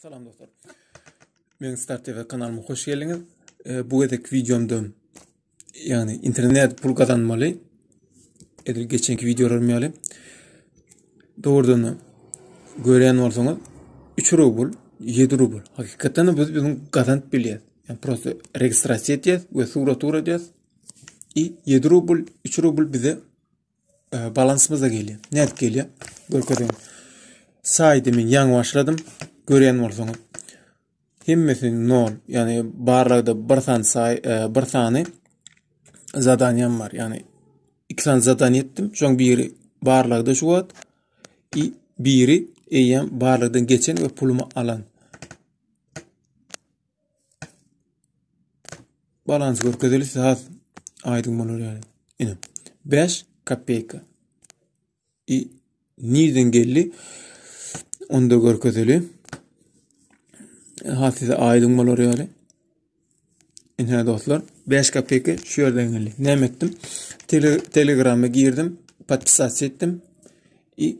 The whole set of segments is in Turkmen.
Salam dostlar. Men Star TV kanalyma hoş geldiňiz. E, bu gezek videomda yani internet pul kazanmaly. Edil geçenki videolarymy ýaly. Doğrudan gören bolsaňyz 3 rubl, 7 rubl. Hakykatdan biz biziň gazanyp bilýär. Yani prosta registrasiýa etýär we sura tura edýär. I 7 rubl, 3 rubl bize e, balansymyz da gelýär. Nädip gelýär? Görkezeýin. Saýdy men ýaňy başladym. Görýän bolsaňyz. Hemmesi 0, ýagny barlagda bir sany saý, e, bir sany zadaniýam bar. Ýagny iki sany zadaniýa etdim. Şoň biri barlagda şu wagt, i biri eýýäm barlagdan geçen we pulumy alan. Balans görkezeli has aýdyň bolar ýaly. Ine. 5 kopeyka. I nirden geldi? Onda görkezeli. Has size aýdyň bolar ýaly. Ine dostlar, 5 kopeyka şu ýerden geldi. Näme etdim? Telegrama girdim, podpisat etdim. I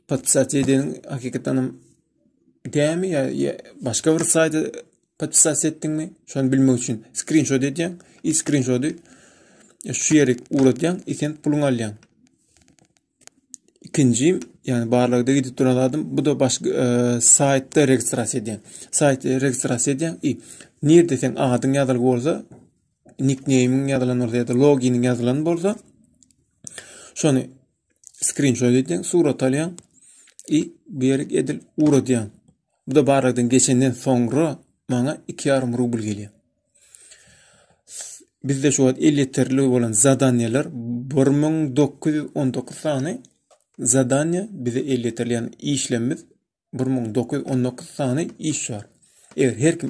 podpisasiýa edeniň hakykatdan hem dämi ýa ýa başga bir saýda podpisasiýa etdiňmi şony bilmek üçin skrinşot edýäň i skrinşoty e, şu ýere ugratýaň i sen puluň alýaň ikinji ýagny barlagda gidip duran adam bu da başga e, saýtda registrasiýa edýäň saýtda registrasiýa edýäň i nirde sen adyň ýazylyp bolsa nikneýmiň ýazylan bolsa ýa-da loginiň ýazylan bolsa şony screenshot edýän, surat alýan i bu ýere edil ugradyň. Bu da barladan geçenden soňra maňa 2,5 rubl gelýär. Bizde şu wagt el ýeterli bolan zadanýalar 1919 sany zadanýa bize el ýeterli, ýagny işlemimiz 1919 sany iş bar. Eger her kim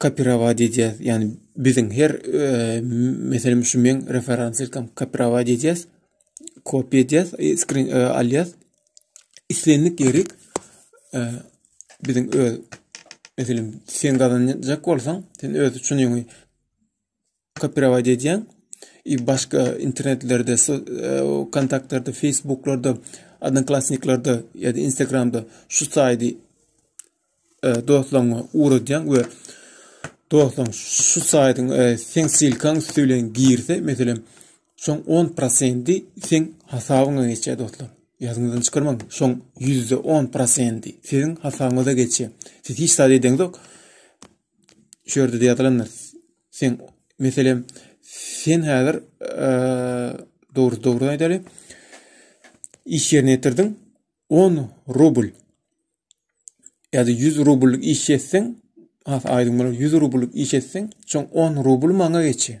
kopirowat edýäs. Ýagny biziň her e, meselem şu meň referensilkam kopirowat edýäs. Kopiýa edýäs, e, skrin e, alýas. Islendik ýerik e, biziň öz meselem sen gazanjak bolsaň, sen öz üçin ýöňi Kopirowat edýäň. I başga internetlerde, e, kontaktlarda, Facebooklarda, Odnoklassniklarda ýa-da Instagramda şu saýdy e, dostlaryňa ugradýaň we dostlaryň şu saýdyň e, seň silkaň üsti bilen girse, meselem, şoň 10% seň hasabyňa geçýär dostlar. Ýadyňyzdan çykarmaň, şoň %10% siziň hasabyňyza geçýär. Siz hiç zat edeniňizok. şu ýerde ýazylandyr. Sen meselem sen häzir dogry dogry aýdaly. Iş ýerine ýetirdiň 10 rubl. Ýa-da 100 rubl iş etseň, ha aýdyň bolar 100 rubl iş etseň, şoň 10 rubl maňa geçýär.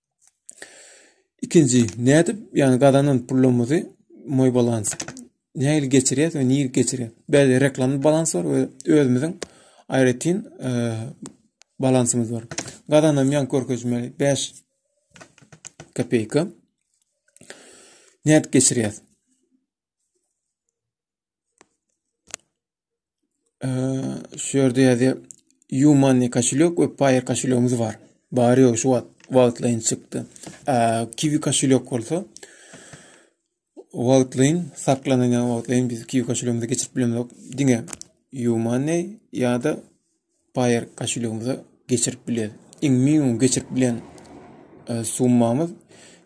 Ikinji, nädip ýagny gazanan pulumyzy moý balans nähili geçirýäs we nirä geçirýäs? Bäde reklamny balans bar we özümiziň aýratyn balansymyz bar. Gazanan ýan görkezmeli 5 kopeyka. Nädip geçirýäs? şu ýerde ýazýar. Yumani koşulýok we Paýer koşulýogumyz bar. Bary ýok şu wagt wagtlaýyn çykdy. Eee, Kiwi koşulýok bolsa wagtlaýyn saklanan ýa wagtlaýyn biz Kiwi koşulýogumyza geçirip bilemzok. Diňe Yumani ýa-da baýyrgaçylygymyza geçirip bilýäris. Iň minimum geçirip bilen e, summamyz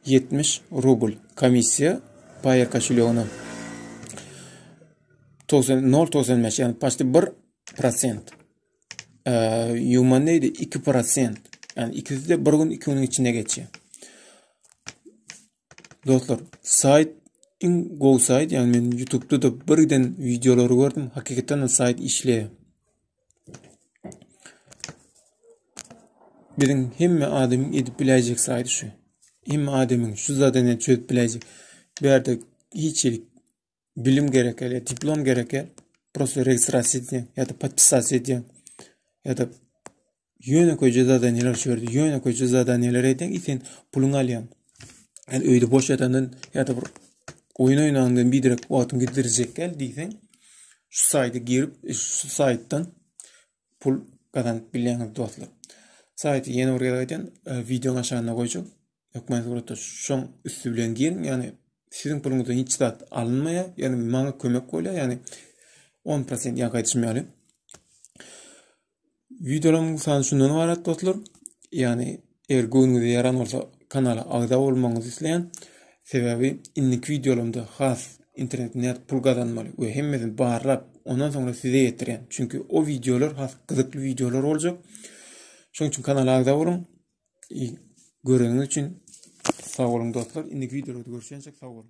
70 rubl. Komissiýa baýyrgaçylygyna 0.95 ýagny paçdy 1 prosent. E, Ýuman neydi? 2 prosent. Yani ikisi de bir gün iki günün içinde geçiyor. Dostlar, saýt iň gowy saýt, ýagny men YouTube-da da bir giden wideolary gördüm, hakykatdan hem saýt işleýär. Biziň hemme adamyň edip biläýjek saýt şu. Hemme adamyň şu zadany çözüp biläýjek. Bu ýerde hiç ýerik bilim gerek ele diplom gerek ya prosta registrasiýa edýän ýa-da podpisasiýa edýän ýa-da ýöne köýje zadaniýalar çördi ýöne köýje zadaniýalar edýän i sen puluňy alýaň ýa öýde boş ýatandan ýa-da bir oýun oýnandan biderek wagtyňy giddirjek gel diýseň şu saýda girip şu saýtdan pul gazanyp bilýäňiz dostlar. Saýty ýene bir gezek aýdýan, e, wideoň aşagynda goýjak. Hökman suratda şoň üstü bilen giriň, ýagny siziň puluňyzdan hiç zat alynmaýar, ýagny maňa kömek bolýar, ýagny 10% ýa gaýdyşym ýaly. Wideolaryň sany şundan ibarat dostlar. Ýagny Eger göwnüňize ýaran bolsa, kanala agza bolmagyňyzy isleýän. Sebäbi indiki wideolarymda has internet nädip pul gazanmaly we hemmesini barlap, ondan soňra size ýetirýän. Çünki o wideolar has gyzykly wideolar boljak. Şonuň üçin kanala agza boluň. Göreniňiz üçin sag boluň dostlar. Indiki wideolarda görüşýänçek sag boluň.